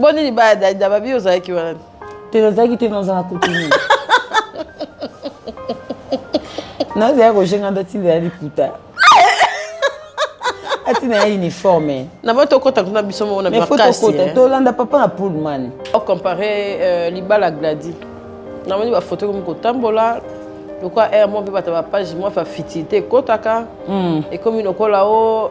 boni libaya dalida babi ozalaki wana te nazalaki te nazala kotuni nazala kojenga nda tinda ya liputa atina ya uniforme na bo tokota kuna biso moko na makasi eh. tolanda papa na pullman ocompare euh, libala gladi namoni bafoto komi kotambola lokola air mo mpe bato ya bapage mwa fa fitilité ekotaka hmm. ekomi lokola o oh,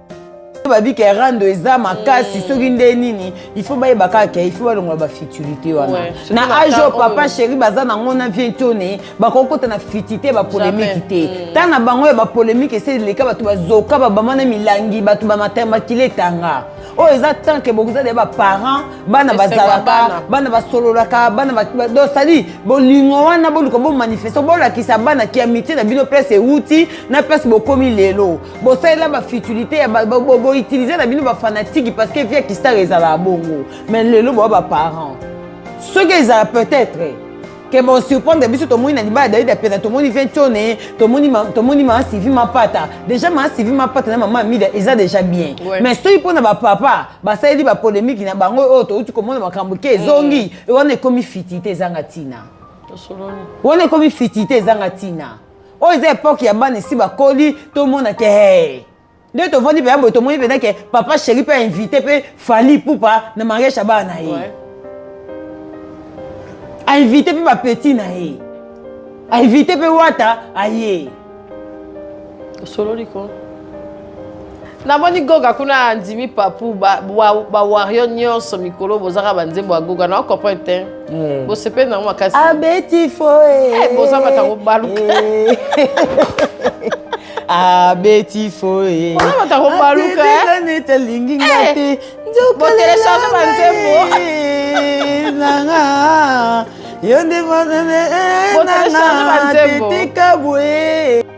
babika erando eza makasi mm. soki nde nini il faut bayeba kaka ke il faut balongola bafutilité wana na age oyo papa chéri baza nango na vie tone bakoki kota na futite bapolemiki te mm. ta na bango ya bapolemiki esi eleka bato bazoka babama na milangi bato bamatemakile etanga oyo oh, eza tant ke bokozala ya baparent bana bazalaka bana basololaka bana do sali bolingo wana boluka bomanifeste bolakisa bana ki amitié na bino place euti na place bokomi lelo bosalela ba futilité ya boutilize na bino bafanatiki parce que vie ya kistar ezalaka bongo mais lelo boa baparent soki ezala peut-être ke bosurprendre biso tomoni na libala david apena tomoni ventione tomoni maa sivi mapata déjà maa sivi mapata na mama amida eza déjà bien mais soki mpo na bapapa basaleli bapolemiki na bango oyo touti komona makambo ke ezongi mm. wana ekomi fitite ezanga ntina wana ekomi fitite ezanga ntina oyo eza epoke ya bana esi bakoli tomona ke hey. nde tovandi mpenza boye tomoni mpenza ke papa sheri mpe ainvite mpe fali pupa na mariage ya bana na ye ouais. ainvite mpe bapeti na ye ainvite mpe wata aye osololi ko namoni goga kuna andimi papu bawario ba, ba nyonso mikolo bozaka banzembo ya goga na comprendre te mm. bosepeli nango makasi abeti foe eh, boza matango baluka eh. abeti foe boza matango baluka nete alingi nga eh. te nzokoteleshange banzembo nanga yo nde mozele nanga tetika bwe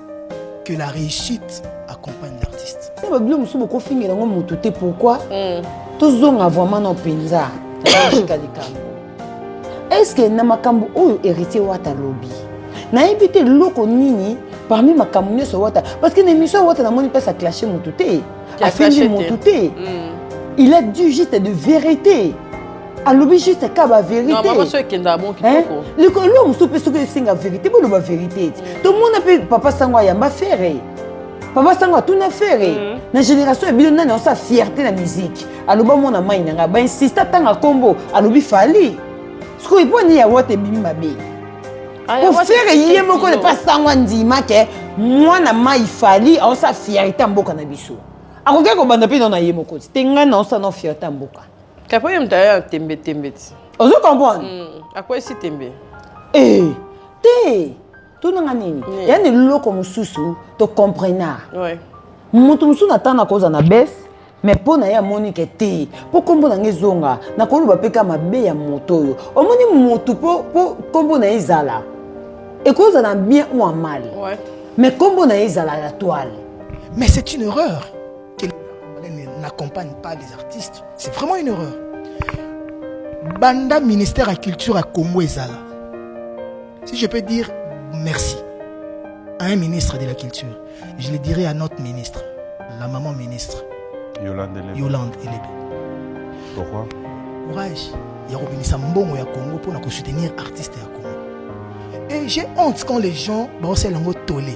que la réussite accompagne l'artiste na babilo mosusu bokofingela yango motu te pourquoi mm. tozonga vraiment na mpenza naika likambo estce na makambo oyo héritier wata alobi nayebi te eloko nini parmi makambo nyonso wata parce que na émission wata namoni mpasi aclashe motu te afingi motu te mm. il a dit juste de vérité alobi juste ka ba veritelikolo mosusu mpe soki esenga verite boloba verite ete tomona mpe papa sango ayamba fere papa sango atuna fere mhm. na génération ya bino nani aosa fierté na miziki aloba mwana mai na ngai bainsiste atanga nkombo alobi fali sikoyo mpo nini ya wata ebimi mabe kofere ye moko ne pas sango andima ke mwana mai fali aosa fierté ya mboka na biso akoki kobanda mpe nao na ye moko te ngai naosa nao fierté ya mboka Kapo ye mutaya ya tembe tembe ti. Ozo comprendre? Mm, akwesi tembe. Eh, te. Tunanga nini? Yeah. Yani loko mususu to comprena. Ouais. Mutu mususu na tana koza na bes me mpo na ye amoni ke te mpo nkombo na ngai ezonga nakoloba mpe ka mabe ya moto oyo omoni motu mpo nkombo na ye ezala ekozala bien ou en mal ouais. mais nkombo na ye ezala ya toile mais c'est une erreur n'accompagne pas les artistes c'est vraiment une erreur banda ministère ya culture ya congo ezala si je peux dire merci à un ministre de la culture je le dirai à notre ministre la maman ministre yolande elebe, yolande elebe. pourquoi courage ya kobimisa mbongo ya congo mpo na kosoutenir artiste ya congo et j'ai honte quand les gens baosala yango tole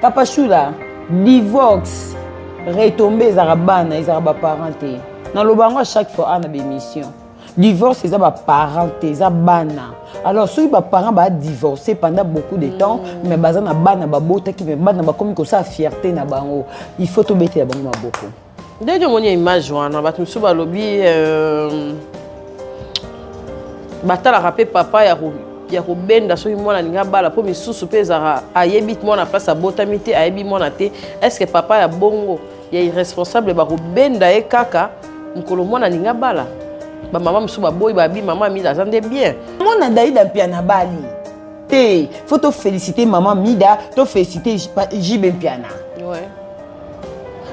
Papa Shula, divorce, retombe ezalaka bana, ezalaka ba parents te. Naloba yango à chaque fois ana ba émission. Divorce eza ba parents te, eza bana. Alors soki ba parents ba divorcer pendant beaucoup de temps, mm. mais baza na bana babotaki, mais bana bakomi kosala fierté na bango. Il faut tobetela bango maboko. ndenge omoni ya image wana bato mosusu balobi euh, batalaka mpe papa ya ya kobenda soki mwana alingi abala mpo misusu mpe ezalaka ayebi mwana place abotami te ayebi mwana te estce papa ya bongo ya irresponsable bakobenda ye kaka mokolo mwana alingi abala bamama mosusu baboyi babi mama amila aza nde bien mwana daida mpe anabali te fo tofélicité mama mida tofélicité jibe mpiana ouais.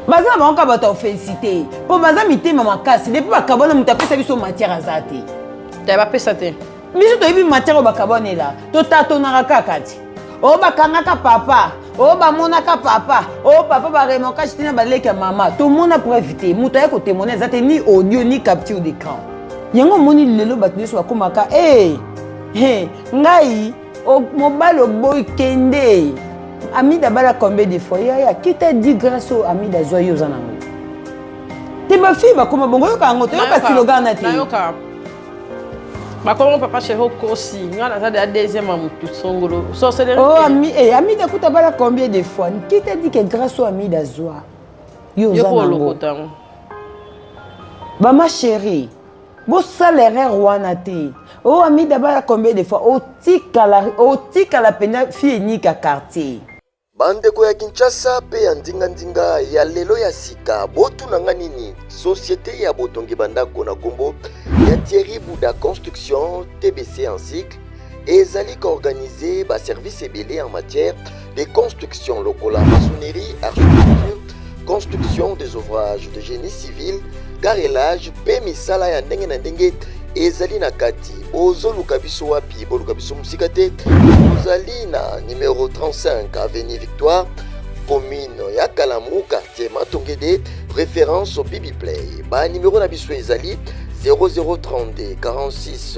baza na bango kaka bato ya ofensite mpo baza mitema makasi depuis bakabwana moto apesa biso matière aza te te bapesa te biso toyebi matière oyo bakabwanela totatonaka kaka ti oyo bakangaka papa oyo bamonaka papa oyo papa baremokage te na baleki ya mama tomona preuve te moto aye kotemone eza te ni audio ni capture de camp yango omoni lelo bato nyonso bakomaka e ngai O, mobali oboyi kende amida abala combien de fois yaya kita di grâce oyo amida azwa yo oza nango te bafille bakoma bongo oyoka yango toyoka silogan na te bakomo papa chéri okosi nga naza deya deuxième ya motu songolo sorcellerie oh, ami, eh, amida kuta bala combien de fois qui t'a dit que grâce oyo amida azwa yo oza nango bama chérie bosala erreur wana te o oh, amida bala combien de fois otikala otikala mpenza fille enika quartier bandeko ya kinshasa mpe ya ndingandinga ya lelo ya sika botuna nga nini societe ya botongi bandako na nkombo ya thierry buda construction tbc en cycle ezali ko organiser ba services ebele en matière de construction lokola maçonnerie, architecture, construction des ouvrages de génie civil, carrelage mpe misala ya ndenge na ndenge ezali na kati. Bozoluka biso wapi? Boluka biso mosika te. Tozali na numero 35 avenue Victoire, commune ya Kalamu, quartier Matongede, référence au Bibi Play. Ba numero na biso ezali 0032 46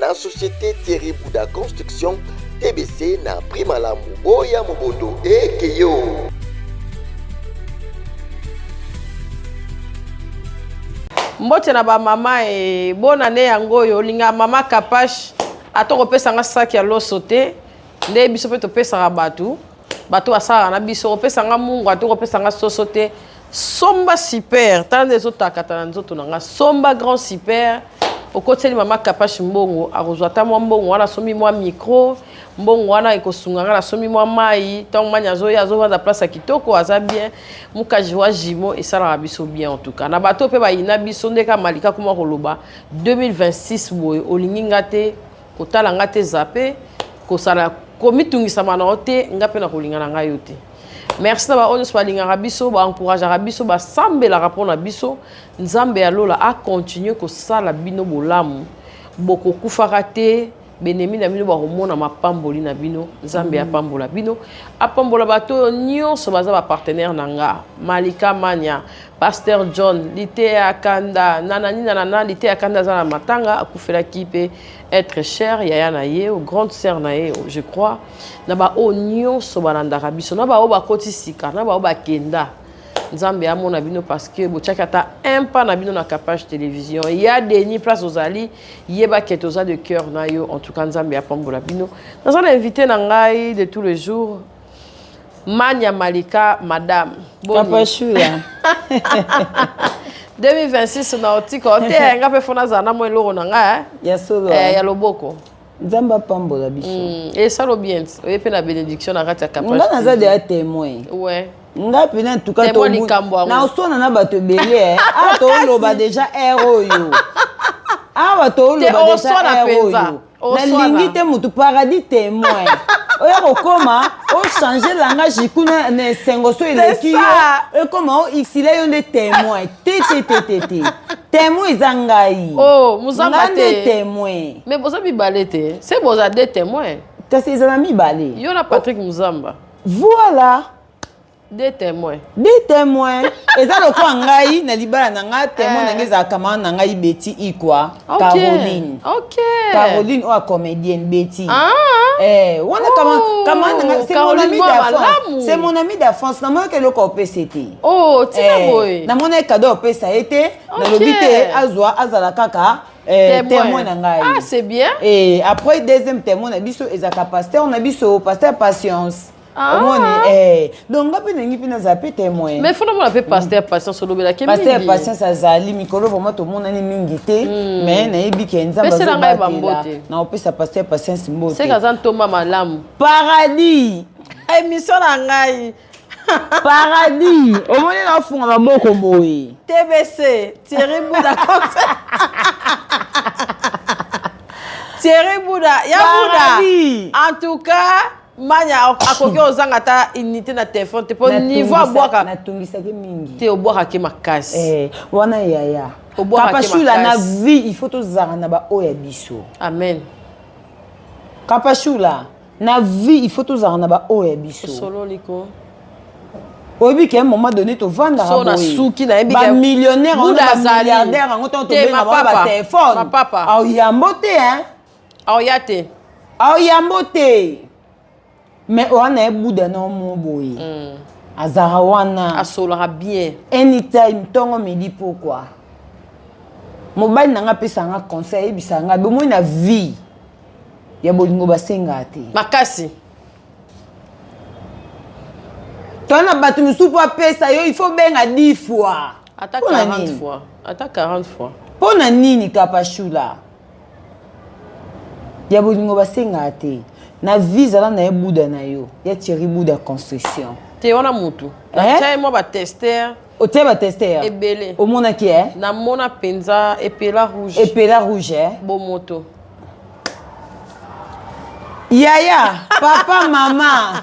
na société Thierry Bouda Construction TBC na prix malamu boya mobondo ekeyo mbote na bamama e bona ne yango oyo olinga mama kapash ata kopesa nga saki ya loso te nde biso mpe topesaka bato bato basalaka na biso kopesa nga mungwa to kopesa nga soso te somba super tala nde ezotakata na nzoto na nga somba grand super okotiseli mama kapashi mbongo akozwa ata mwa mbongo wana asombi mwa mikro mbongo wana ekosunga nga nasombi mwa mai ntango mani azoya azovanda place ya kitoko aza bien mukaji wa jimo esalaka biso bien entuka na bato mpe bayina biso nde ka malika kuma koloba 2026 boye olingi nga te kotala nga te zape kosala komitungisama na yo te nga mpe nakolinga na ngai yo te merci na baoyo nyonso balingaka biso baencourageaka biso basambelaka mpo na biso nzambe ya lola akontinue kosala bino bolamu bokokufaka te benemi na bino bakomona mapamboli na bino nzambe apambola bino apambola bato oyo nyonso baza bapartenaire na nga malika mania Pasteur John Liteya Kanda nanani nanana Liteya Kanda aza na matanga akufelaki mpe être cher yaya na ye o grande sœur na ye je crois na baoyo nyonso balandaka biso na baoyo bakoti sika na baoyo bakenda nzambe amona bino parce que botyaki ata un pas na bino na capage télévision ya deni place ozali yeba ke toza de cœur na yo en tout cas nzambe apambola bino naza na invité na ngai de tous les jours Manya Malika, madame. Kapashula. 2026 na otika ote ya nga mpe fo nazala na mwa eloko na nga eh. ya solo eh, eh. ya loboko nzambe apambola biso mm, esalo bien oye mpe na bénédiction na kati ya kapanga naza deya témoin ouais. nga mpena ntuka naoswana na bato ebele eh. a ah, toloba deja r oyo awa toloba deja r oyo nalingi te motu paradis témoin oya kokoma ochange langage kuna na esengo so eleki yo ekoma o xila yo nde témoin te te te te te témoin eza ngai oh, nga nde témoin mais boza mibale te se boza de témoin kasi ezala mibale yo na patrick muzamba voilà Des témoins. Des témoins. eza lokola ngai na libala na ngai témoin eh. na ngai ezalaka mama na ngai beti ikwa caroline caroline oyo comédienne beti ah. eh, wana kama na ngai c'est mon ami d'enfance c'est mon ami d'enfance namonaki eloko opesa ete oh, eh, namonaki kado opesa ye te nalobi te azwa azala kaka Eh, témoin na ngai ah, c'est bien et eh, après deuxième témoin na biso ezalaka pasteur na biso pasteur patience Ah. omoni eh, donc nga mpe nalingi mpe nazala mpe témoin mais fona mona mpe paster patience olobelaki paster patience azali mikolo vraimen tomonani mingi te hmm. mais nayebi ke nzambeazobatela na opesa paster patience mbote aza ntoma malamu paradis émission na ngai paradis omoni nafunga maboko boye tbc thierry buda thierry buda ya buda en tout cas manya akoki ozanga ata unité na telefone te mpo niveau abwaka natungisaki mingi te obwakaki makasi eh, wana yaya kapashula na vie il faut tozala na baoyo ya biso amen kapashula na vie il faut tozala na baoyo ya biso osololi ko oyebi ke moment donné tovandaka bamillionnaire bamilliardaire yango ntango tobengaka batelefone aoyambo te hein aoya te aoyambo te mais oa na ye buda na omo boye mm. azalaka wana asolaka bien anytime ntongo midi pokwa mobali na nga apesaka nga conseil ayebisaka nga bomoi na vie ya bolingo basengaka te makasi to na bato mosusu mpo apesa yo il faut benga 10 fois ata 40 fois ata 40 fois mpo na nini kapashula ya bolingo basengaka te na vie zala na ye buda na yo ya thierry buda construction te wana mutu natya ye mwa batester otie batester ebele omonaki e namona mpenza epela rouge epela rouge eh? bomoto yaya papa mama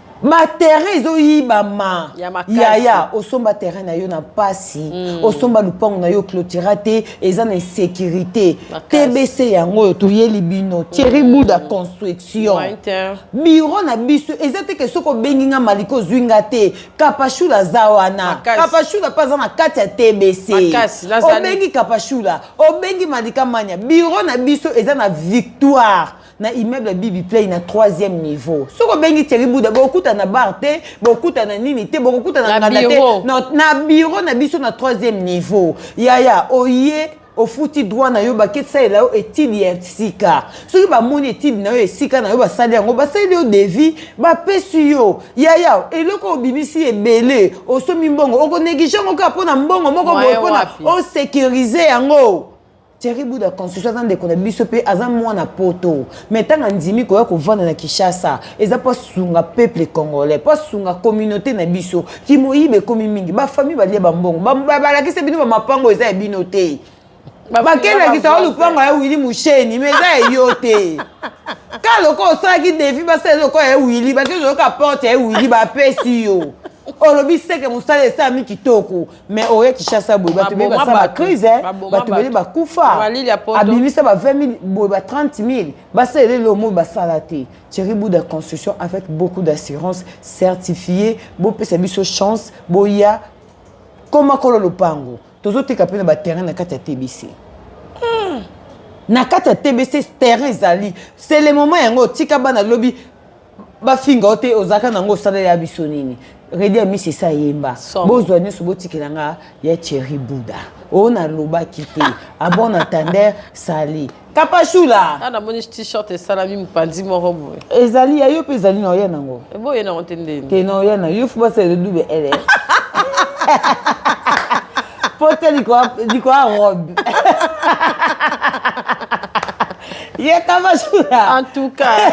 ba terrain ezoyibama yaya osomba terrain na yo na mpasi mm. osomba lupango na yo clotira te eza na insécurité tbc yango oyo toyeli bino thierry mm. buda construction biro na biso eza te ke soki obengi nga malika ozwi nga te kapashula aza wana kapashula mpe aza na kati ya tbc obengi kapashula obengi malika mania biro na biso eza na victoire na immeuble ya bibi play na troisième niveau soki obengi thierry buda bokokuta na bar te bokokuta na nini te bokokuta na nganda te na bureau na biso na troisième niveau yaya oye ofuti droit na yo bakesalela yo etide ya sika soki bamoni etide na yo esika na yo basali yango basali yo devis bapesi yo yaya eloko obimisi ebele osomi mbongo okoneglige yango kaka mpo na mbongo moko boye mpona osecurise yango Thierry Buda Constitution aza ndeko na biso pe aza mwana poto mais ntango andimi koya kovanda na Kinshasa eza mpo asunga peuple congolais mpo asunga communauté na biso kimoyibi ekomi mingi bafamille balia bambongo balakisa bino bamapango eza ya bino te bakelakisa o lupango ya wili musheni mais eza ya yo te ka lokola osalaki defi basala lokola ya wili bakezoyoka porte ya wili bapesi yo olobi seke mosala esalami kitoko mais oye kishasa boye bato ebele basala bacrise eh. bato ebele bakufa abimisa ba 20 000 boye ba 30 000 basala elele omo basala te thierry bouda construction avec beaucoup d'assurance certifié bopesa biso chance boya koma kolo lopango tozoteka mpe na baterrain na kati ya tbc hmm. na kati ya tbc terrain ezali c'est le moment yango otika bana lobi bafinga yo te ozalaka nango osala ya biso nini redi amisi esi ayemba bozwa nyonso botikela nga ya cheri buda oyo nalobaki te abon ah atander sali kapashula ah, namoni t-shirt esalami mopanzi moko boye ezali ya yo mpe ezali na oya nango eh, boye nango te ndeni te na oya na yo fo basala edube ele pote likoa robe yetabasura en tout cas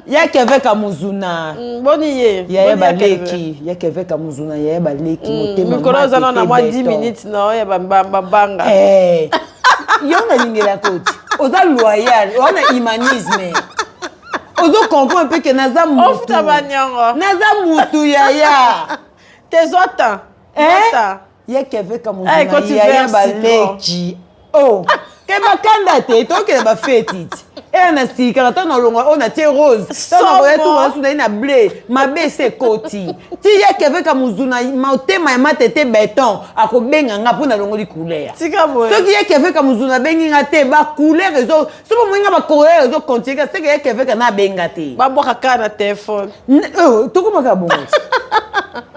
yaki avec amuzuna mm, boni ye yaye baleki yaki avec amuzuna yaye baleki mm, motema mikolo oza na na mwa 10 minutes na oyo ya babanga eh, yo nalingela koti oza loyal oza na humanisme ozo comprendre mpe ke naza mutu naza mutu yaya te zwa temps eh? ye keve kamuzunayiya baleki o oh. ke bakanda te tokende bafeti ti eya na sikaka ntango nalonga oyo natie rose ntango nakoya tungana suna ye na ble mabe ese ekoti ti ye keve kamuzuna motema ya matete beton akobenga nga mpo nalongoli couleur soki ye keve kamuzuna abengi nga te bacouleur ezo soki omoni nga bakoya ozo continue ka seke yeke veka na abenga te babwaka kaka na telefone oh, tokomaka bongo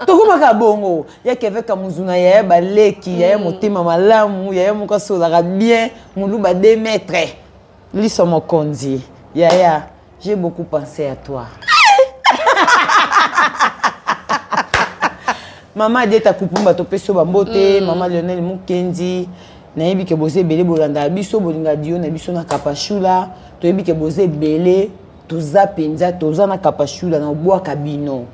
tokomaka bongo yeke veka mozuna yaya baleki yaya hmm. motema malamu yaya moko asolaka bien moluba 2 mètre liso mokonzi yaya J'ai beaucoup pensé à toi. mama adieta kupumba topesi yo bambote mm. mama lionel mukendi nayebi ke boza ebele bolandaka biso bolinga dio na biso na kapashula toyebi ke boza ebele toza mpenza toza na kapashula na obwaka bino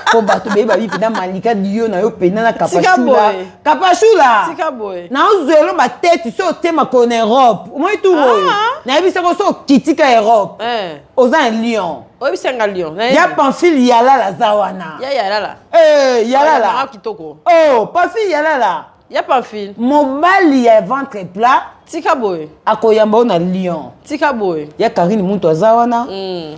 mpo bato beye babi mpenza malika dio na yo mpenza na kapashula kapashula tika boye naozwa elo batete so otie makolo na europe omoi tour oyo ah. nayebisako so okitika europe eh. oza na lyon oyebisanga lyon ya pamphile yalala aza wana ya yalala eh, yalala kitoko o oh, pamphile yalala ya pamphile mobali ya ventre plat tika boye akoyamba yo na lyon tika boye ya karine muntu aza wana mm.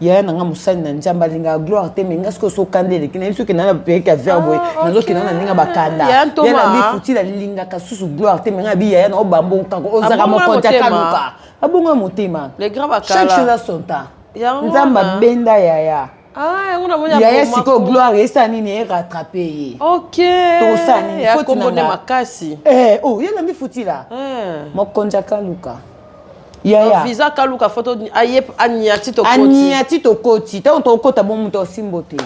yaya na nga mosali na nzambe alingaka gloire te me nga soki osokanda eleki nayebi soki nana bapeyaki ya verbe oye ah, nazokenda na ndenge bakanda ya na bifuti nalingaka susu gloire te me nga bi yaya na obambonkanko ozalaka mokonzi akaluka abonga motema chaque chose a son temps nzambe abenda yaya Ah, yaya sikoyo gloire esala nini erattrape ye tokosala nini foti na nga eh, oh, ye na mifutila eh. mokonzi akaluka yaya visa kaluka foto aye aniati tokoti aniati tokoti tango tokokota bo moto osimbo te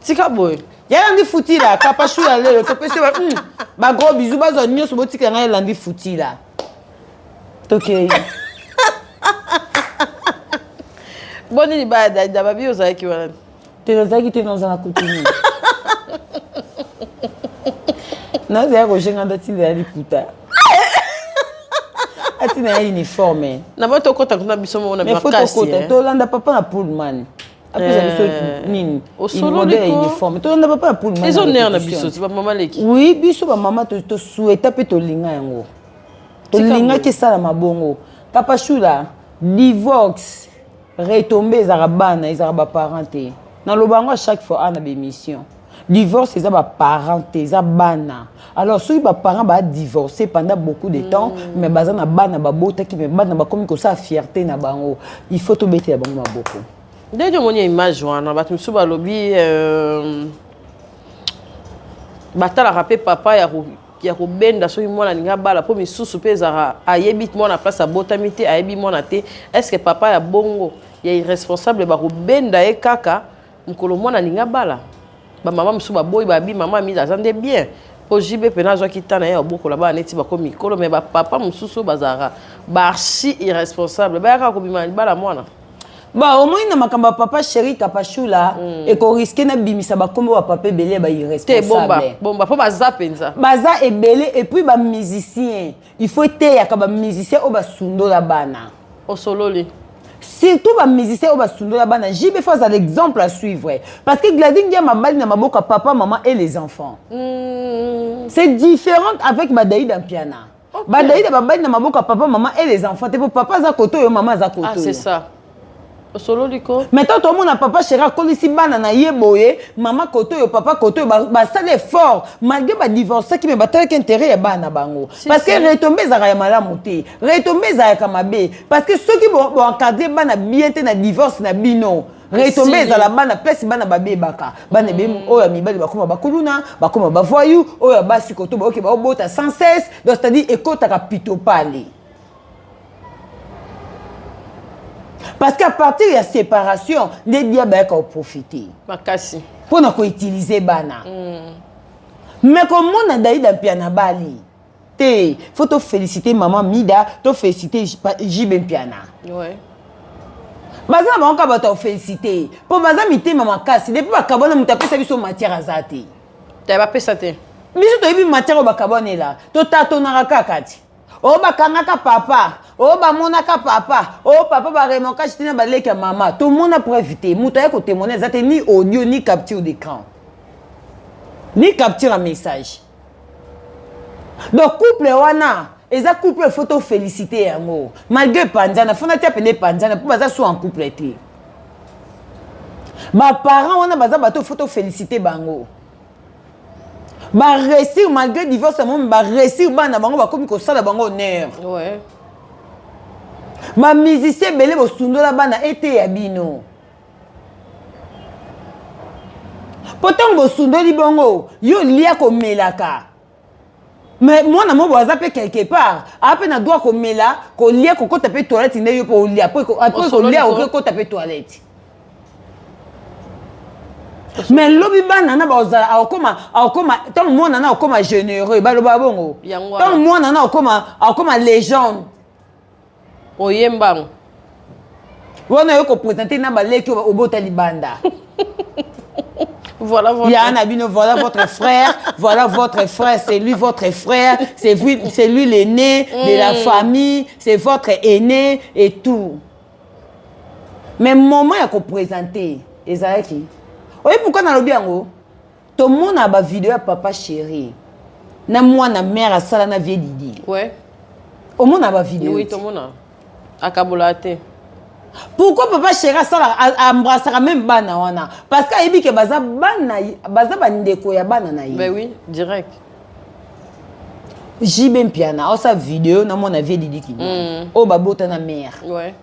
tika boye yaya ndi futila kapashu ya lelo topesi ba mm, ba gros bisous bazwa nyonso botika ngai elandi futila tokei boni libaya daida babi ozalaki wana te nazalaki te naoza na kutu nini nazalaki kojenga nda ntina ya liputa atina ya uniforme na bato okota kuna biso moko na makasitokota eh. tolanda papa na pullman apesa biso eh. nini mode ya uniforme tolanda papa na pullman ezo nere na biso ti bamama leki oui biso bamama tosueta mpe tolinga yango tolingaki esalama bongo kapashula divorce retombe ezalaka bana ezalaka baparent te naloba yango a chaque fois awa na baémission divorce eza baparent te eza bana alors soki baparent badivorce pendant beaucoup de temps mm. mais baza na bana babotaki mais bana bakomi kosala fierté na bango il faut tobetela bango maboko ndenge omoni image wana bato mosusu balobi euh, batalaka mpe papa ya ya kobenda soki mwana alingi abala mpo misusu mpe ezalaka ayebi mwana place abotami te ayebi mwana te est ce que papa ya bongo ya irresponsable bakobenda ye kaka mokolo mwana alingi abala bamama mosusu baboyi babi mama amida aza nde bien mpo jb mpena azwaki ntan na ye ya kobokola bana neti bakomi mikolo me bapapa mosusu bazalaka baarchi irresponsable bayaka kobima libala mwana ba omoni na makambo ya papa chéri kapashula mm. ekoriske nabimisa bakombo ya papa ebele ba irresponsable bomba mpo baza mpenza baza ebele epuis bamusicien il faut eteyaka bamusicien oyo basundola bana osololi surtout bamusicien oyo basundola bana jb fo aza l'exemple à suivre parce que gladi ndia mabali na maboko ya papa maman et les enfants mm. c'est différente avec badaida mpiana okay. badalida babandi na maboko ya papa mama e les enfants te mpo papa aza koto oyo mama aza koto ah, c'est ça osololi ko mais ntango tomona papa chéri akolisi bana na ye boye mama koto oyo papa koto oyo basali effort malgré badivorcaki me batalaki intérêt ya bana bango parce que retombe ezalaka ya malamu te retombe ezalaka mabe parce que soki boencadre bana bien te na divorce na bino retombe ezala bana pesi bana babebaka bana ebe mm. oyo ya mibali bakoma bakuluna bakoma bavoyu oyo ya basi koto baoke baobota sans cesse donc c'est-à-dire ekotaka pito pale parce qu'à partir ya séparation nde dia bayaka oprofite makasi mpo na koutilize bana mm. me komona daida mpe anabali te faut to féliciter maman Mida to féliciter JB Mpiana ouais baza na bango kaka bato ya félicité mpo baza mitema makasi depuis bakabwana moto apesa biso matière aza te te bapesa te biso toyebi matière oyo bakabwanela totatonaka kaka ti oyo oh, bakangaka papa oyo oh, bamonaka papa oyo oh, papa baremonkage te na baleki ya mama tomona preuve te moto aye kotemone eza te ni audio ni capture d'écran ni capture ya message donc couple wana eza couple il faut tofélicité yango malgré panzana fona tia pene panzana mpo baza so en couple te baparent wana baza bato il faut tofélicité bango baresir malgré divorce yango baresir bana bango bakomi kosala bango honneur ouais. bamusicien ebele bosundola bana eteya bino mpo ntango bosundoli bongo yo lia komelaka me mwana mobo aza mpe quelque part aa mpe na droit komela kolia kokota mpe toilette nde yo mpe olia mpo kolia oke kota mpe toilette me lobi bana na baozala akokoma akokoma ntango mwana na akokoma généreux baloba bongo ntango mwana na akokoma akokoma légende oyembango wana yo kopresente na baleki oyo obota libanda voilà votre... ya na bino voilà votre frère voilà votre frère c'est lui votre frère c'est lui, c'est lui l'aîné mm. de la mm. famille c'est votre aîné et tout mais moment ya kopresente ezalaki oyebi pourkua nalobi yango tomona ba video ya papa chéri na mwana mère asala na vie didi ouais. omona ba video oui, tomona akabola te pourquoi papa chéri asala embrassaka même bana wana parce que ayebi ke baza bana baza bandeko ya bana na ye ben oui direct jb mpiana aosa video na mwana vie didi kidi mm. oyo babota na mère ouais.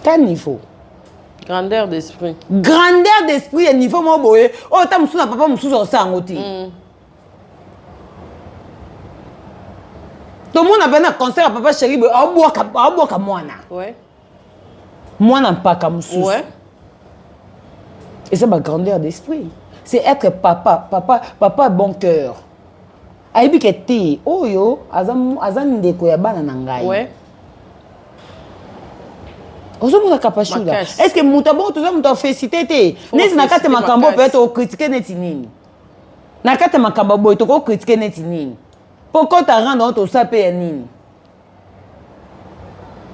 ta niveau grandeur d'esprit grandeur d'esprit ya niveau moko boye oyo ata mosusu na papa mosusu akosala yango te mm. tomona mpe na concert ya papa sheri boye aobwaka mwana mwana mpaka mosusu eza bagrandeur d'esprit c'est être papa papa papa bon cœur ayebi ke te oyo aza, aza ndeko ya bana na ngai ouais. ozomona kapashula est ce que moto abongo toza moto afesite te neti na kati ya makambo mpe tokokritike neti nini na kati ya makambo boye tokokritike neti nini mpo kota rendre oyo tosala mpe ya nini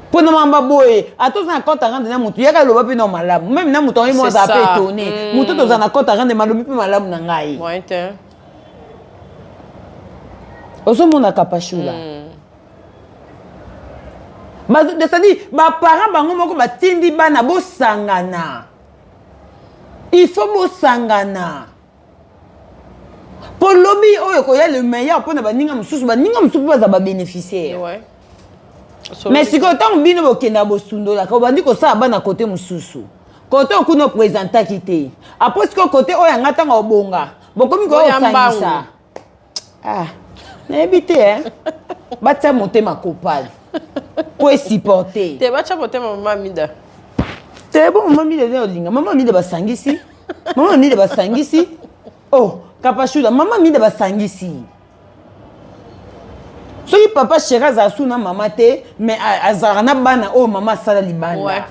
mpo na mamba boye ata oza na compte arande na motu yaka aloba mpe na malamu meme na motu yango mo azala mpe etone mm. motu toza na compte arande malobi mpe malamu na ngai ozomona kapashula mm. c'est-à-dire baparent bango moko batindi bana bosangana il faut bosangana mpo lobi oyo ekoya le meilleur mpo na baninga mosusu baninga mosusu mpe baza babeneficiaire ouais. mais sikoyo ntango bino bokendaka bosundolaka obandi kosala bana kote mosusu kote okuna opresentaki te apres sikoyo kote oyo yanga ntango obonga bokomi koya kosangisa ah nayebi te hein batia motema kopala po esupporte te batya motema mama mida te bo mama mida eza olinga mama mida basangisi mama mida basangisi oh kapashula mama mida basangisi soki papa sheri azala su na mama te mais azalaka na bana oyo mama asala libanda ouais.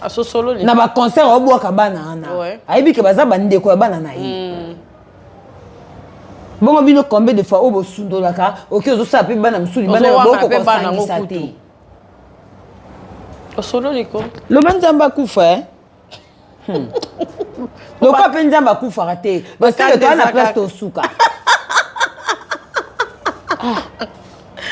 asosololi na baconcert aobwaka bana wana ouais. ayebi ke baza bandeko ya bana na ye mm. bongo bino combien de fois oyo bosundolaka oke ozosala mpe bana mosusu libanda bokokosangisa te osololi ko loba nzambe akufa e hmm. lokola mpe nzambe akufaka te basala toa na place tosuka ah.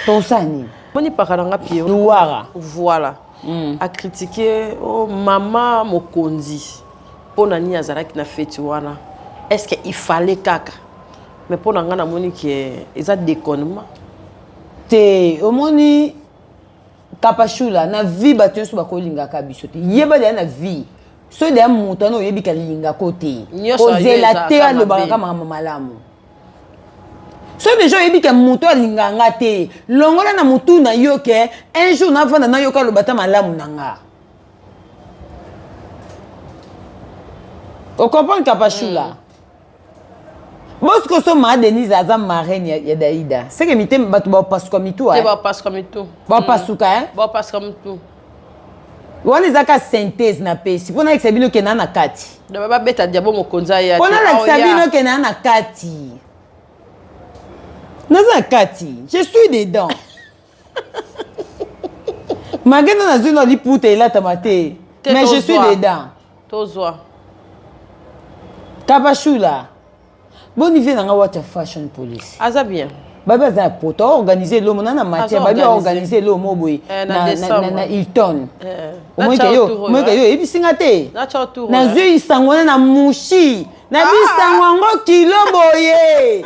tosala nini moni paka nanga pie luwara voilà mm. acritiquer oh, mama mokonzi mpo na nini azalaki na feti wana est ce que il fallait kaka mais mpo na ngai namoni ke eza déconnement te omoni kapashula na vie bato nyonso bakolingaka biso te yeba deya na vie soki deya moto wana oyebi kalingako te kozela te alobaka ka makambo malamu soki deja oyebi ke moto alinga nga te longola na motu na yo ke un jour navanda nayoka aloba ta malamu na nga ocomprendre kapashula mm. bosi kosoma denise aza marraine ya, ya daida seke mite bato bapasuka mitu eh? bapasuka mitu bapasuka mm. eh? bapasuka mitu wana eza ka synthèse na pesi mpo nalakisa bino kenda na kati babeta diabo mokonzi aya mpo nalakisa bino kenda na kati naza na kati je suis dedans magenda nazwi na liputa elatama te mais je suis dedans tozwa kabashula boni vie na nga wata fashion police aza bien babi aza ya poto aorganize elomo na na matière babi aorganize elomo boye eh, na hilton eh, omoyeke yo oyebisi nga te nazwi isango na na mushi na bisango yango kilo boye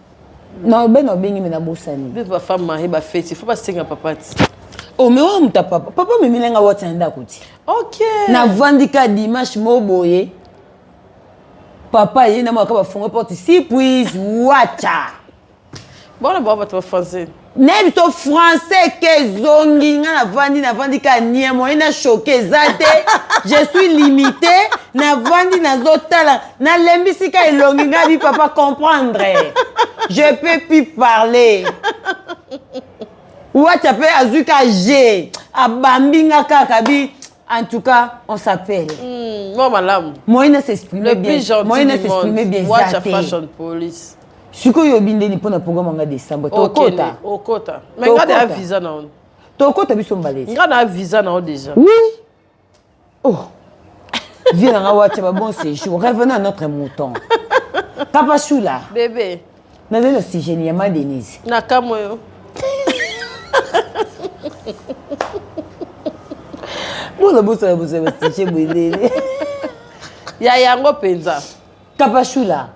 na obeni obengi me nabosani mpe bafemme marie bafeti fo basenga papa ti o oh, me oyo moto papa papa omemile nga wati na ndako ti ok navandi ka dimanche mo boye papa ye na mwaka bafungo porte si puis wacha bona bao bato bafrançais naye biso français ke ezongi nga navandi navandi ka nie moye na choke eza te je suis limité navandi nazotala nalembisi ka elongi nga bi papa comprendre je peux plus parler wacha mpe azwi ka je abambi nga kaka bi En tout cas, on s'appelle. Mm, moi, madame. Moyen à s'exprimer bien. Le plus gentil Moyen à s'exprimer bien. Watch a fashion police. sikoyo oyebi ndeni mpo na programme yanga décembre tokota okota mais nga na visa na yo tokota biso mbalesi nga na visa na yo déjà oui oh vie nanga wacha ba bon séjour revenons à notre mouton kapashula bébé nazali na sujet ni ya ma denise na kamwe yo boza bosala bozala basije boelele ya yango mpenza kapashula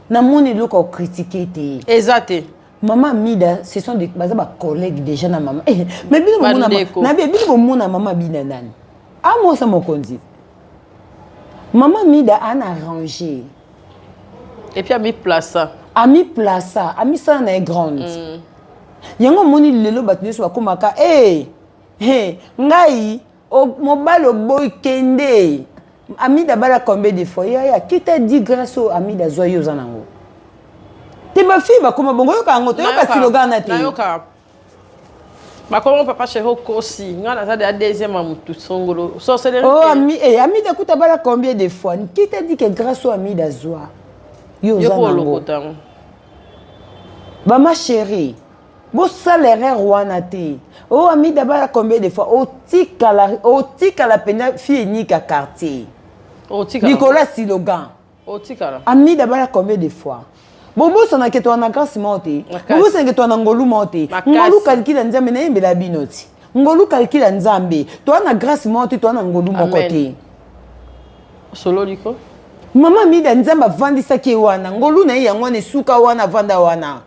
namoni eloko akokritike te eza te mama mida ce sont des baza bacollègue déjà na mama eh, mais bino bomona nabi bino bomona mama bina nani amosa mokonzi mama mida ana arrange Et puis ami plaça. Ami plaça, ami ça na grande. Mm. Yango moni lelo bato nyonso bakomaka eh hey, ngai mobali oboyi kende amida bala combien de fois yaya qui t'a dit grâce au amida zwa yo oza nango te bafille bakoma bongo yoka yango toyoka siloga na te bakomo papa chéri okosi ngai naza deya deuxième ya motu songolo sorcellerie oh, ami, eh, amida kuta bala combien de fois qui t'a dit que grâce oyo amida azwa yo oza nango bama chéri bosala erreur wana te o oh, amida bala combien de fois otikala otikala mpenza fille enika quartier likolo ya silogan otikala amida bala combien de fois bobosana ke toa na grâce moko te bobosana ke toa na ngolu moko te ngolu kalikila nzambe nayembela bino ti ngolu kalikila nzambe toa na grâce moko te toa na ngolu moko te osololi ko mama mida nzambe avandisaki ye wana ngolu na ye yango wana esuka wana avanda wana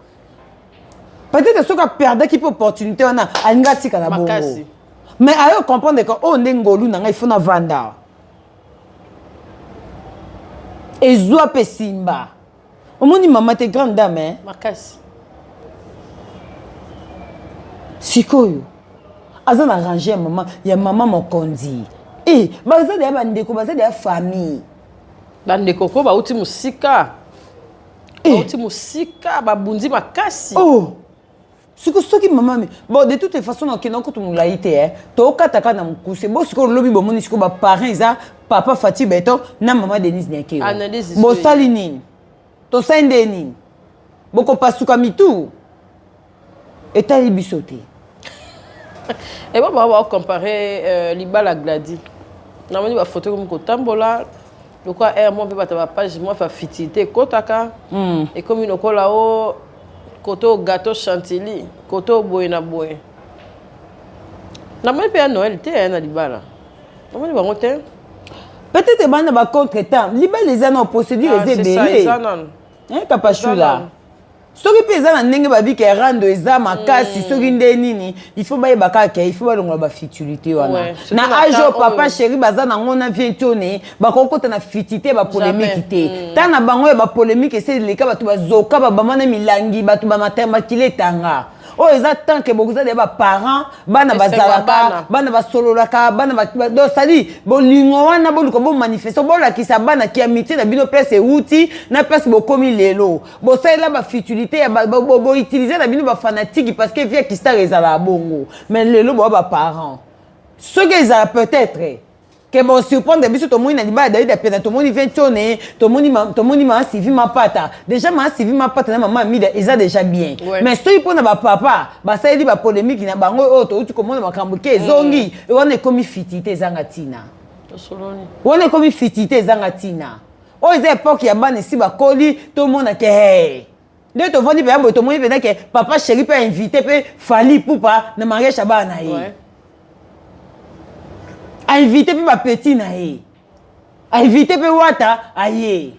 peut-être soki aperdaki mpe opportunité wana alingi atikala bongo mais ayo comprendre ke oyo oh, nde ngolu na ngai fona vanda ezwa mpe simba omoni mama te grande dame eh? makasi sikoyo aza na range ya mama ya mama mokonzi e eh, baza deya bandeko baza deya famille bandeko ko bauti mosika eh. bauti mosika babundi makasi oh. siko soki mama mi bon de toute façon nakenda kutu molai te eh. tokataka na mokuse bo sikoyo lobi bomoni sikoyo baparent eza papa fati beton na mama denise niakeo bosali nini tosali nde nini bokopasuka mitu etali biso te ebo baa baocompare euh, libala gladi namoni bafoto ekomi kotambola lokola air mo mpe bato ya bapage mwa facilité ekotaka ekomi lokola o Koto gato chantilly, koto boye na boye. Na moni pe ya Noël te ya na libala. Na moni bango te. Peut-être bana ba contre temps. Libala eza na procédure ah, eza ebele. Eza na. Hein papa Shula. soki mpe eza na ndenge babika erando eza makasi mm. soki nde nini ifo bayeba kaka il faut balongola bafutilité wana na age oyo papa sheri baza nango na vie ntone bakokota na fiti te bapolemiki te mm. ta na bango ya bapolemiki eseli leka bato bazoka babama na milangi bato bamatemakili etanga oyo eza tant ke bokozala ya baparent bana bazalaka bana basololaka bana dosali bolingo wana boluka bomanifeste bolakisa bana ki amitié na bino place ewuti na place bokomi lelo bosalela bafutilité ya boutilize na bino bafanatiki parce que vie kistar ezalaka bongo mais lelo boa baparent soki ezala peut-être ke bo surprendre biso tomoni na libala David apena tomoni ventione tomoni ma, tomoni ma Sylvie Mapata déjà ma Sylvie Mapata na maman Amida eza déjà bien ouais. mais soki pona ba papa basaleli ba polemique na bango oyo touti komona makambo ke ezongi mm. wana ekomi fitite ezanga tina wana ekomi fitite ezanga tina oyo eza epoke ya bana esi bakoli tomona ke hey. nde tovandi mpenza boye tomoni mpenza ke papa sheri mpe ainvite mpe fali pupa na mariage ya bana na ye ouais. ainvite mpe bapeti na ye ainvite mpe wata aye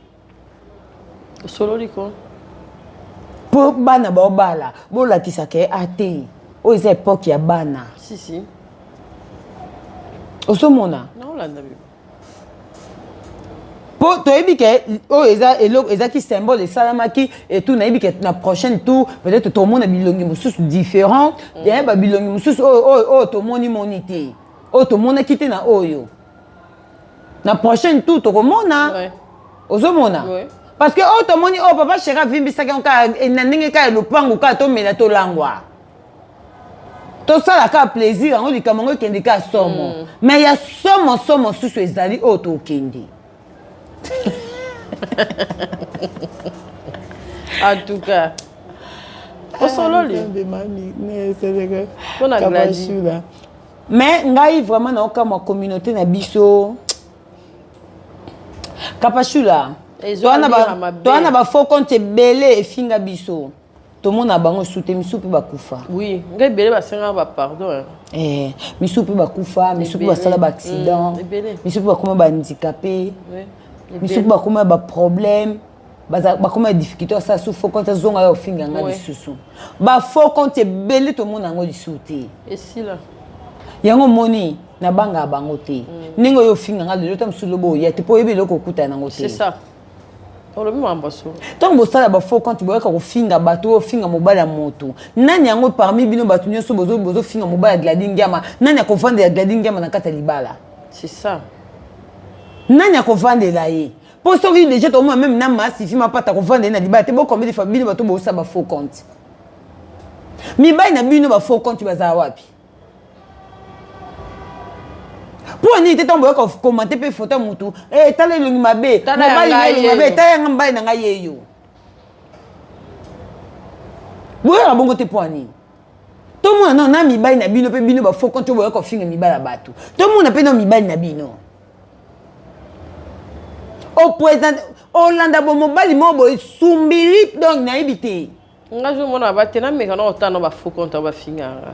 osololi ko mpo bana baobala bolakisa ke ate ah, oyo eza epoke ya bana si, si. ozomona mpo toyebi ke oyo eza eloko ezalaki symbole esalamaki etou nayebi ke na prochaine tour peut-être tomona bilongi mosusu différent mm. ya ba bilongi mosusu oyo oyo oyo tomoni moni te oyo tomonaki te na oyo na prochaine tour tokomona ozomona parce que oyo tomoni oyo papa sheri avimbisaki yango kaka na ndenge kaka lopango kaka tomela tolangwa tosala kaka plaisir yango likambo yango ekende kaka somo mm. mais ya somo somo susu ezali oyo tokende en tout cas osololi mais ngai vraiment naokamwa communauté na biso kapashula toa na bafaux compte ebele efinga biso tomona bango esu te misu mpe bakufa oui ngai ebele basengaka bapardon eh, misu mpe bakufa misu mpe basala baaccident mm, misu mpe bakoma bahandikape misu mpe bakoma baproblème bakoma difficulté asala su fo compte azonga ya ofinga nga lisusu bafaux compte ebele tomona yango lisusu te esila yango omoni nabangaka bango te mm. ndenge oyo ofinga nga lelo ta mosusu lobo oya te mpo oyebi eloko okutana yango te olobi makambo solo ntango bosala bafaux compte boyaka kofinga bato oyo ofinga mobali ya moto nani yango parmi bino bato nyonso bozofinga mobali ya gladi ngiama nani akovandela gladi ngiama na kati ya libala c'est ça nani akovandela ye mpo soki deja tomona meme na masifi mapata akovandela ye na libala te bokombeli fa bino bato bosala bafaux compte mibali na bino bafaux compte bazala wapi mpo nini te ntango boyoka komante mpe foto ya motu eh, tala elongi mabe mobali na elongi mabe tala yanga mobali na ngai yeyo boyoka bongo te mpo nini tomona nao na mibali na bino mpe bino bafoko nto boyoka kofinga mibali ya bato tomona mpe nao mibali na bino opresente olanda bomobali moko boye sumbili donc nayebi te nga zo mona ba te na meka na otana ba faux compte ba finganga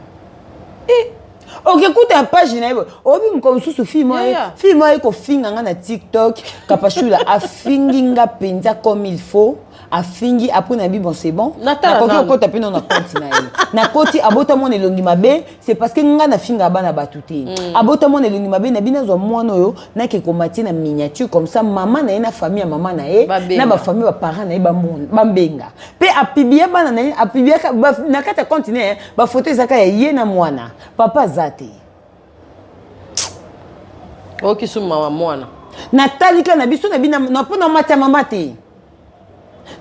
eh okekuta page na ye oyebi mokolo mosusu fille moko aye kofinga nga na tiktok kapashula afingi nga mpenza comme il faut afingi apres na bi bon c'est bon nakoki kokota mpe no na compte na ye nakoti abota mwana elongi mabe c'est parce que nga nafingaka bana bato te mm. abota mwana elongi mabe na bino azwa mwana oyo nake komatie na miniature comme ça mama na ye na famille ya mama na ye na bafamille baparent na ye bambenga mpe apiblia bana na ye apibliaka na kati ya compte na ye bafoto ezaka ya ye na mwana papa aza te okisuma mawa mwana natalika na biso na bino mpo na mati ya mama te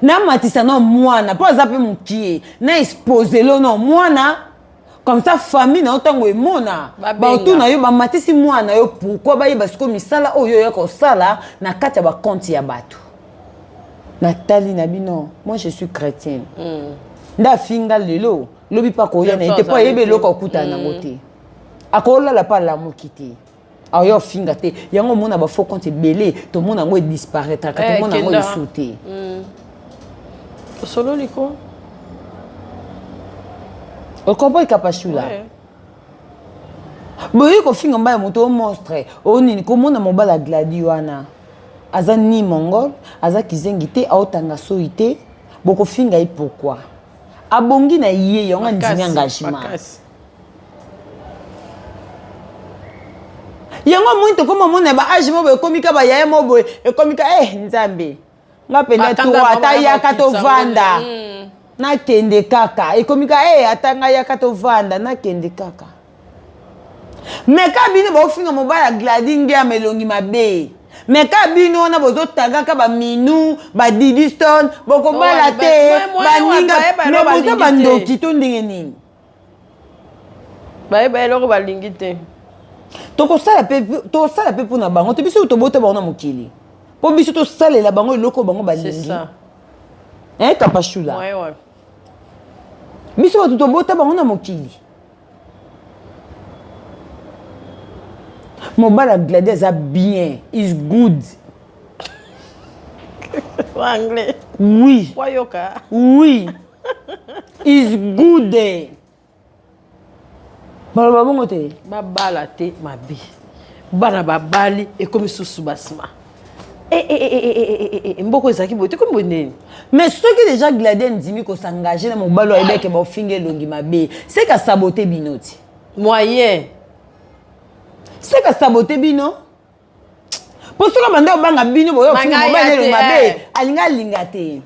namatisa na mwana mpo aza mpe mokie na expose lo na mwana comme ça famille na yo ntango emona bautu na yo bamatisi mwana na yo pourkui bayeba sikoyo misala oyo oya kosala na kati ya bakonte ya bato natali na bino moi je suis chrétienne mm. nde afinga lelo lobi mpe akoya na ye te mpo ayebi eloko akutana nango mm. te akolala mpe alamuki te awa ya ofinga te yango omona ba faux compte ebele tomona yango edisparaitraka eh, tomona yango esu te hmm. osololi ko okomprendre kapashula boyei kofinga mbai ya moto o monstre o nini komona mobali ya gladi wana aza ni mongol aza kizengi te aotanga soyi te bokofinga ye pourkui abongi na ye yango andimi engagement yango amoni tokoma omona ba age moboye ekomi ka bayaya moboye ekomi ka eh nzambe nga mpenza turo ata yaka tovanda hmm. nakende kaka ekomi ka e eh, ata ngai yaka tovanda nakende kaka me ka bino baofinga mobali ya gladi ngeama elongi mabe me ka bino wana bozotagaka baminu badidiston bokobala te baninga me boza bandoki to ndenge nini bayeba eloko balingi te tokosala mpe tosala mpe mpo na bango te biso tobota bango na mokili mpo biso tosalela bango eloko bango balingi eh, kapashula ouais, ouais. biso bato tobota bango na mokili mobali ya gladi aza bien is good anglais oui wayoka oui is good baloba bongo te babala te mabe bana babali ekomi susu basima eh, eh, eh, mboko ezalaki boye tekomi boye ndeni mais soki deja gladi andimi kosengage na mobali oyo ayebeke baofinga elongi mabe seka sabote bino ti moyen seka sabote bino mpo soki banda obanga bino boyofingamobali mabe eh. alinga alinga te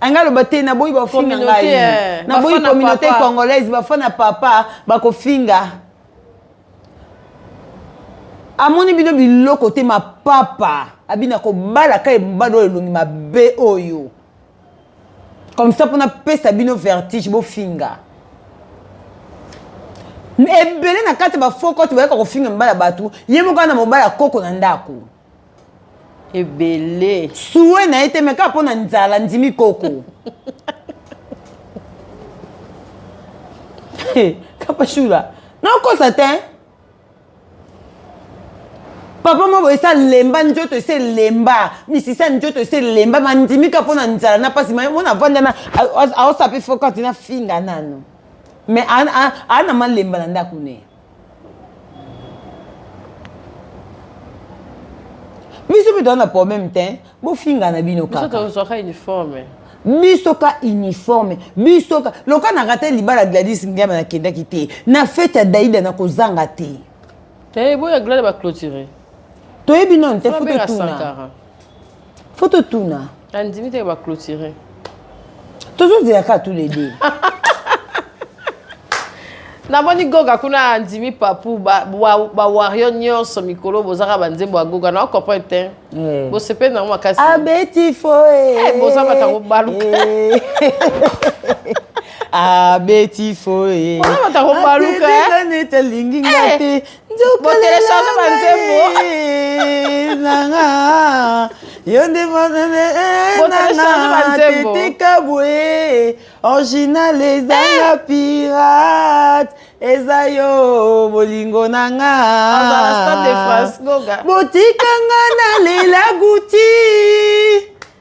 alinga aloba te naboyi bafinga ngai eh. naboyi communauté congolaise bafana papa bakofinga amoni bino biloko te mapapa abina kobalaka ebado elongi mabe oyo comme ça mpona pesa bino vertige bofinga ebele na kati ya bafaux cote bayaka kofinga mibali ya bato ye moko ana mobali ya koko na ndako ebele sue na ye te me kaka mpo na nzala ndimi koko kapashula nakosa te papa moko esi alemba nzoto esi elemba misisa nzoto esi elemba mandimika mpo na nzala na mpasi mona avandana aosape fokati na finga nano mais aa na malemba na ndako ne biso mpe toza na problème te bofinga na bino kaka biso tozwaka uniforme biso ka uniforme biso ka loka na rate libala gladis ngiama nakendaki te na fete ya daida nakozanga te eh, boya glade baclotire toyebi nano te fo totuna fo totuna andimi te baclotire tozozela kaka tous les deux namoni goga kuna andimi papu bawario nyonso mikolo bozaka banzembo ya goga na comprendre te eh. bosepeli nango makasi abeti foe eh, boza batango baluka eh. abeti foye baluka nete alingi nga te botelecharge banzembo nanga yo nde motetika boye original ezanga eh! pirate eza yo bolingo na nga botika nga na lela guti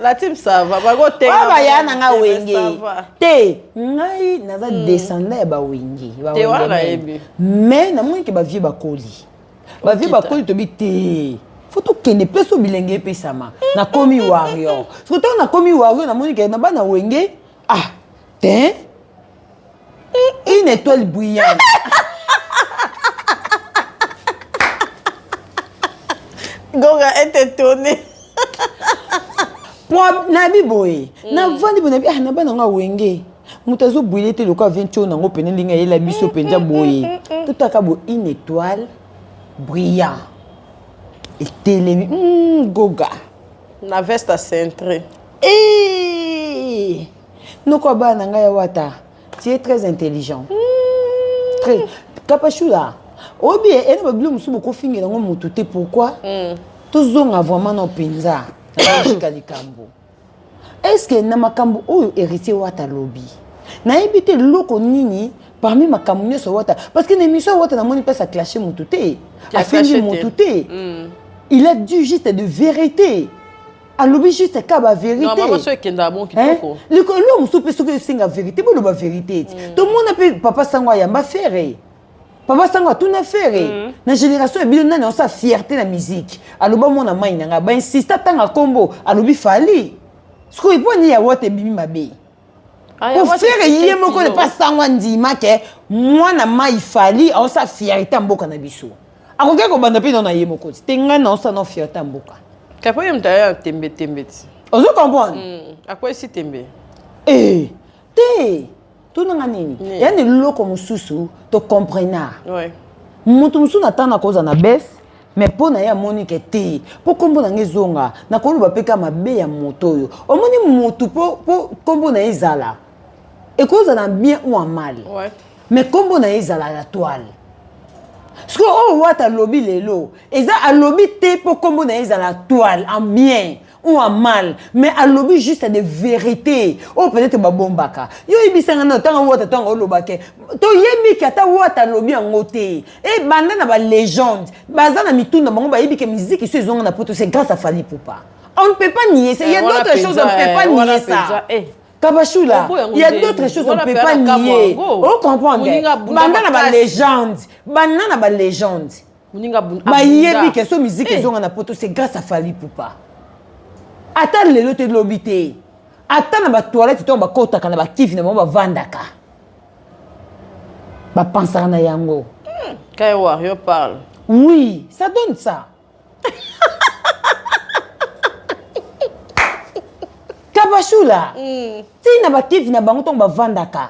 la team ça va bako te ba ba ya na nga wenge te ngai naza hmm. descendant ya ba wenge ba wenge mais na moni ke ba vieux bakoli ba vieux bakoli tobi te fo tokende mpe so bilenge epesama nakomi warrior soki ntango nakomi warrior namoni ke na bana wenge ah te une étoile brillante goga est étonné nayebi boye mm. navandi boye nayebi ah na bana yango awenge moto azobwile te lokola ventio nango mpene ndenge ayela biso mpenza mm, mm, boye totaka bo une étoile brillant etelemi goga na veste acentre eh! Noko ya bana na ngai ya wata, tu es très intelligent. Mm. Très. Kapashula, oyebi ye, ena babilo mosusu bokofingela yango motu te, pourquoi? Mm. Tozonga vraiment na mpenza, na logika likambo. Est-ce que na makambo oyo héritier wata lobi, nayebi te loko nini parmi makambo nyonso wata parce que na émission wata namoni place aclashe motu te afingi motu te il a dit juste de vérité alobi juste ka ba veritelikolo mosusu mpe soki esenga verite boloba verite ti mm. tomona mpe papa sango ayamba fere papa sango atuna fere mm. na génération ya bino nani aosa fierté na musique aloba mwana mai na ngai bainsista ntanga nkombo alobi fali sikoyo epo nini ya wata ebimi mabe ofere ye moko ne pas sango andima ke mwana mai fali aosa fierté ya mboka na biso akoki kobanda mpe nao na ye moko te ngai naosa nao fierté ya mboka kapo ye moto aya tembe tembe ti ozo comprendre hmm, akwesi tembe ee eh, te tonanga nini ya na eloko mosusu tocomprenaa moto mosusu na ntango nakozala na bese mais mpo na ye amoni ke te mpo nkombo na ngai ezonga nakoloba mpe kaka mabe ya moto oyo omoni motu mpo nkombo na ye ezala ekozala bien ou en mal ouais. mais nkombo na ye ezala ya toile sikoyo oyo oh, wata alobi lelo eza alobi te mpo nkombo na ye ezala toile en bien on a mal mais alobi juste de vérité oyo oh, peut-être babombaka yo oyebisanga na ntango wata ntango olobake toyebi ke ata wata alobi yango te ebanda na balégende baza na mituna bango bayebi ke miziki so ezonga na poto c'est grâce à fali poupa on ne peut pas nier ça il y a eh, d'autres choses on ne peut pas eh, nier ça eh. kabashula il y a d'autres choses on ne peut pas nier ocomprendre oh, banda na balégende banda na balégende muninga abunda bayebi ke so miziki Eh. ezonga na poto c'est grâce à fali pupa ata lelo te lobi te ata na batoilette ntango bakotaka na bakivi na bango bavandaka bapansaka na yango Kaya Warrior parle. oui ça donne ça kabashula ntina bakivi na bango ntango bavandaka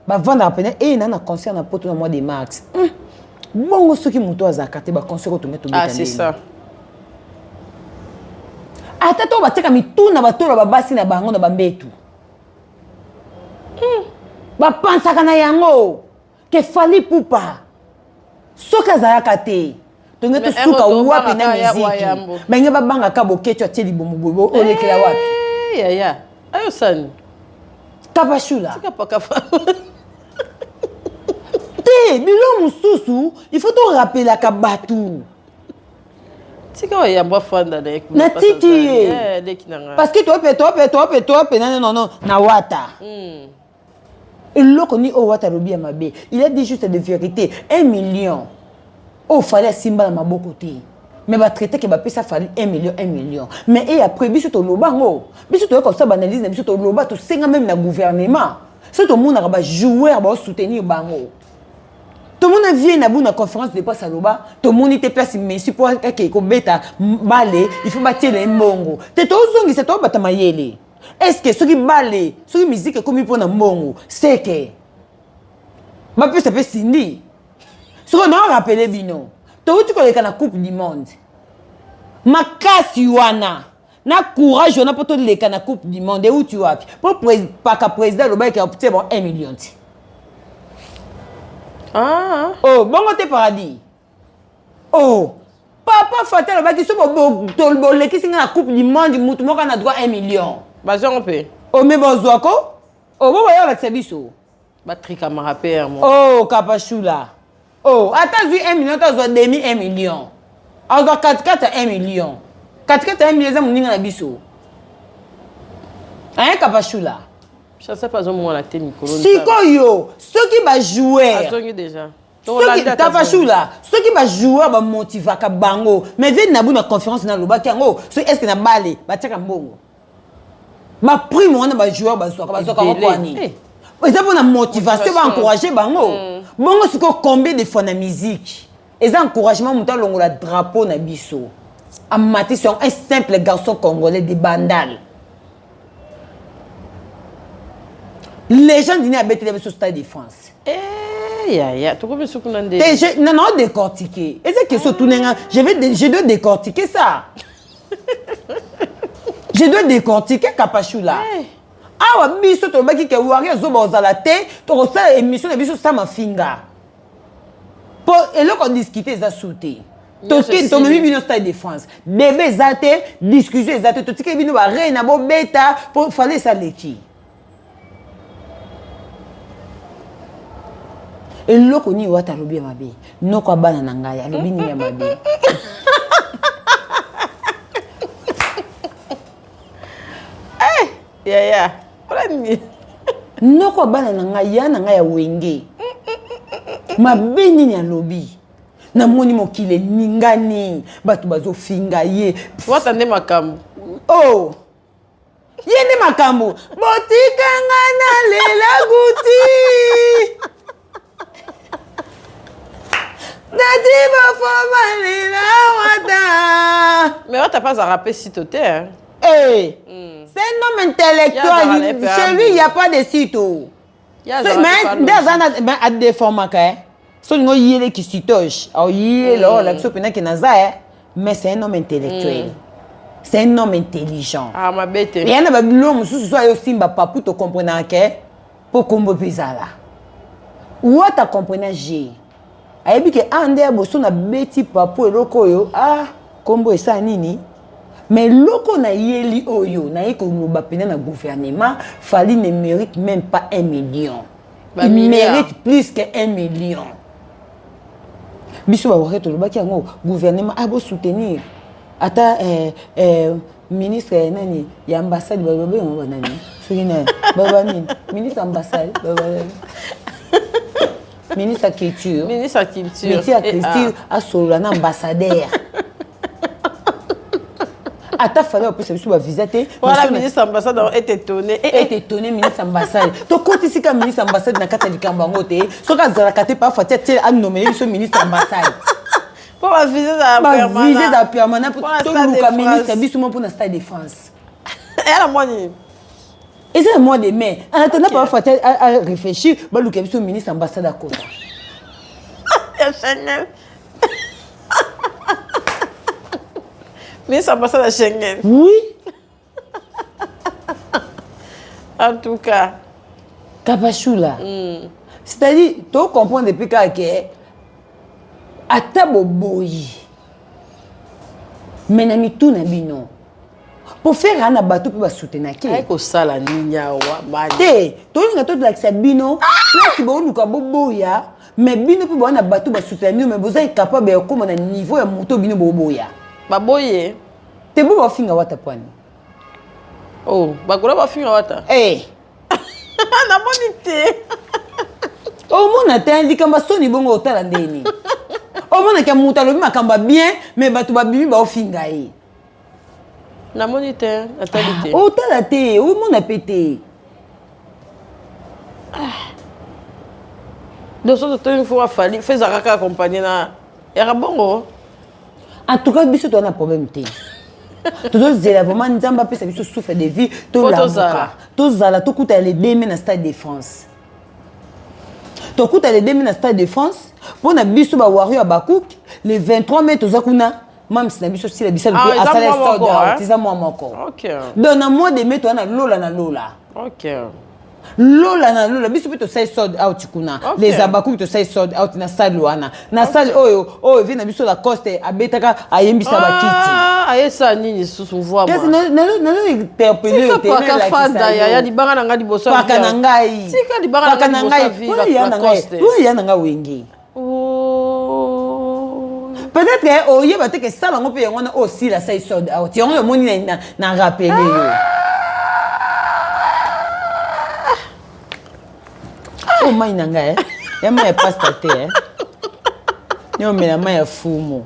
bavandaka pene eye na na concert na poto na mois de mars hmm. bongo soki moto azalaka te baconcert oyo tonge tobeta ata to batika mituna batolo babasi na bango na bambetu hmm. bapansaka na yango ke fali pupa soki azalaka te tonge tosuka wapi na miziki bange babanga ka boketo atie libomo boye olekela wapi eh, yaya ayo sani kapashula te bilo mosusu il faut torapelaka bato tika oyamba fanda na natiki ye eh, parce que tope tope tope tope nane nono na wata mm. eloko ni oyo wata alobi ya mabe il a dit juste de vérité un million oyo fali asimba na maboko te mais batraite ke bapesa fali 1 million 1 million mais e après biso toloba yango biso toyoka kosala baanalyse na biso toloba tosenga meme na gouvernement soki tomonaka bajoueur baosoutenir bango tomona vie na bo na conférence de presse aloba tomoni te place messi mpo akei kobeta bale il faut batiela ye mbongo te tozongisa tobata mayele est ce que soki bale soki miziki ekomi mpo na mbongo seke bapesa mpe sindi soki na rapele bino touti koleka na coupe du monde makasi wana na courage wana mpo toleka na coupe du monde euti wapi mpo paka président alobaki te bon 1 million ti ah. oh, bongo te paradis oh papa fata alobaki so bolekisi ngai na coupe du monde motu moko na droit 1 million bazwango mpe ome oh, bozwako obo oh, boya olakisa biso batrikamaka mpe yango o kapashula o ata azwi 1 million to azwa demi 1 million azwa katikati ya 1 million katikati ya 1 million eza moninga na biso aye kapashula sikoyo soki bajouer soki tafashula soki bajoueur bamotivaka bango mais vie nabu na conférence nalobaki yango soki estce na bale batiaka mbongo baprime wana bajoueur bazwaka bazwaka wakwani eh. eza mpona motivation baencourage bango mm. bongo sikoyo combien de fois na musique eza encouragement moto alongola drapeau na biso amatisi yango un simple garçon congolais de bandale legende nini abetela biso stade de france eh, yaya tokomi suku na nde na nao décortiquer eza question tuna nga je vais je dois décortiquer ça je dois décortiquer kapashula hey. Eh. awa biso tolobaki ke wari azoba ozala te tokosala émission na biso sa mafinga mpo eloko discute eza su te toke tomemi bino stade de france bebe eza te discussion eza te totikeli bino barei na bobeta mpo fale esaleki eloko nini wata alobi ya mabe noko abana na ngai alobi nini ya mabe eh, yaya mpona nini noko abana na ngai ya na ngai ya wenge mabe nini alobi namoni mokili eningani bato bazofinga ye wata nde makambo oh ye nde makambo botikanga na lela guti nati bafoma lela wata me wata mpe azalaka mpe sito te eh. mm. c'est un homme intellectuel chez lui il y a pas de sito nde aza na adeformaka e so olingi oyele kisitoge oyele oyo olakisi oyo mpenza ke naza e mais c'est un homme intellectuel mm. c'est un homme intelligent ah, mabe te eya na babilo mosusu so ayo osimba papu tokomprenaka ke mpo kombo mpe ezala wata komprena je ayebi ke a ah, nde ya boso na beti papu eloko oyo a ah, nkombo esala nini mais loko na yeli oyo naye koloba mpena na gouvernement fali ne mérite même pas un million ba il mérite plus que un million biso bawake tolobaki yango gouvernement abo ah, soutenir ata eh, eh, ministre ya nani ya ambassade baloba yango banani soki nani baloba nini ministre ambassade baloba ministre ya culture ministre ya culture meti ya culture asolola na ambassadeur ata fale bapesa biso bavisa te wana ministre ambassade yango ete tone eh, eh. ete tone ministre ambassade tokotisi ka ministre ambassade na kati ya likambo yango te soki azalaka te parfois ti atie anomele biso ministre ambassade mpo bavise za permanent toluka ministre biso mo mpo na stade de france eh, yala mwa nini eza ya mois de mai en attendant papa fata réfléchir baluka biso ministre ambassade akota ya chanel ministre ambassade ya schengen oui en tout cas kabashula mm. c'est-à-dire tocomprendre epuis kaka ke ata boboyi me na mitu na bino mpo fere ana bato mpe basutenake kosala nini awa te tolinga tolakisa bino place booluka boboya me bino mpe bowana bato basutena bino me boza incapable ya kokóma na niveau ya moto bino boboya baboye te bo bafinga wata pwani oh, bakola bafinga wata hey. Eh. namoni te omona te likambo ya soni bongo otala ndeni omonaka moto alobi makambo ya bien me bato babimi baofinga ye namoni te natali te ah, otala te omona mpe te ah. dosoto to une fois fali feza kaka accompagne na yaka bongo en tout cas biso toza na problème te tozozela vraiment nzambe apesa biso souffle de vie tolamuka tozala tokutana le deme na stade de france tokutana le deme na stade de france mpo na biso bawario ya bakuki le 23 mai toza kuna mamsi na biso sila bisalu mpe ah, asala sold out eza mwa moko donc na mois de mai toa na lola na lola lola na lola biso mpe tosali sold out kuna okay. les abakubi tosali sold out na sale wana na okay. sale oyo oyo vie na biso lacoste abetaka ayembisa ah, bakiti ayesa nini lisusu voaayaya libanga na ngai libosoaka na ngai libanga na ngai ya na ngai wenge Oh. Peut-être que eh, oyeba oh, te que sala ngo pe yango na osila oh, sai sold out. Yango yo moni na na rappeler yo. Ah. Oh mai na ngai. Eh. Ya mai pasta te. Eh. Nyo mela mai ya fumo.